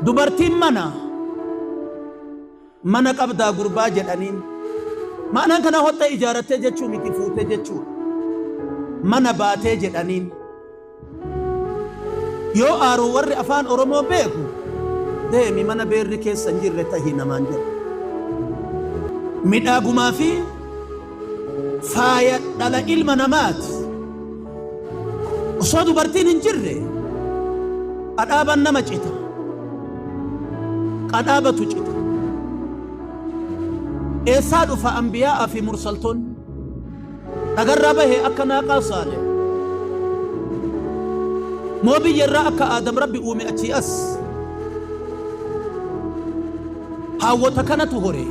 Dubartiin mana mana qabdaa gurbaa jedhaniin maanaan kanaa hotta ijaarattee jechuu miti fuute jechuudha. Mana baatee jedhaniin. Yoo aaru warri afaan oromoo beeku deemi mana beerri keessa hin jirre tahi namaan jedha. Midhaagumaa fi faaya dhala ilma namaati. Osoo dubartiin hin jirre qadhaabaan nama cita. Qadhaabatu cita. Eessaa dhufa ambiyaa fi mursaltoon dhagarraa bahe akka naaqaa saale. Moo biyyarraa akka aadam rabbi uume achii as. Haawwota kanatu horee.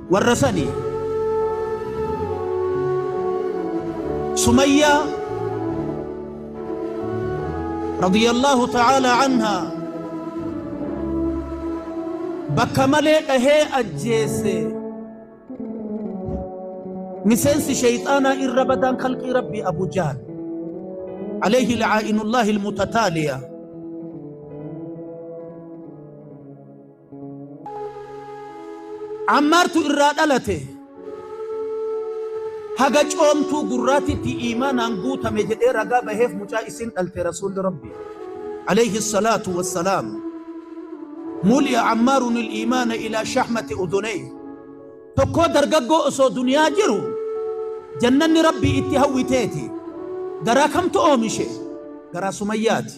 Warra sani Sumayyaa radiyallaahu ta'aalaa anhaa bakka malee dhahee ajjeesse miseensi sheyxaanaa irra badaan kalqii rabbii Abu Jahl alayhi la'aa'inullaahi almutataaliya Ammaartu irraa dhalate. Haga coomtuu gurraatitti iimaanaan guutame jedhee ragaa baheef mucaa isiin dhalte Rasuulli Rabbii, Aleyhi salaatu wassalaam, Muli'a Ammaarunil iimaana ilaa shahmati uduneyhi, Tokkoo dargaggoo osoo duniyaa jiru jannanni Rabbii itti hawwiteeti. Garaa kamtu oomishe? Garaa Sumayyaati.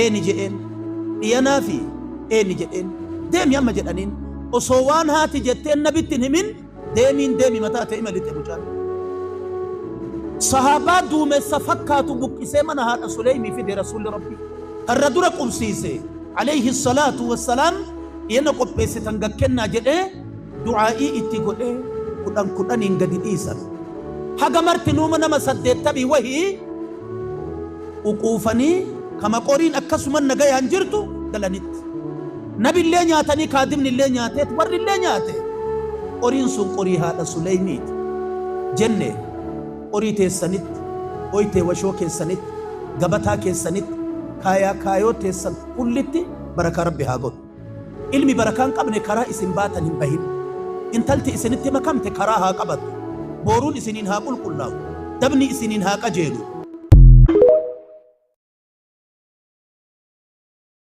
Eeni jed'een, D'ianaafi eeni jed'een, Deemi amma jed'aniin. Osoo waan haati jetteen nabitti hin himin deemiin deemi mataa te'i malixe mucaan. Sahaabaa duumessa fakkaatu buqqisee mana haadha Suleymii fide Rasuulli Rabbii. Karra dura qubsiise. Aleyhi salaatu wassalaam Dhiana qopheessitan gad kennaa jedhee du'aa'ii itti godhee kudhan kudhaniin gadi dhiisan. Haga martinuu nama saddeettamii wahii. ququufanii ka maqoriin akkasuma nagayaan jirtu galanitti. Nabillee nyaatanii kaadimnillee nyaateet warrillee nyaate. Qoriin sun qorii haadha Suleymiiti. Jenne, Qorii teessanitti, oytee washoo keessanitti, gabataa keessanitti, kaayaa kaayoo teessan kullitti barakaa Rabbi haa godhu. Ilmi barakaa hin qabne karaa isin baatan hin bahin. Intalti isinitti makamte karaa haa qabattu. Booruun isiniin haa qulqullaa'u. Dabni isiniin haa qajeelu.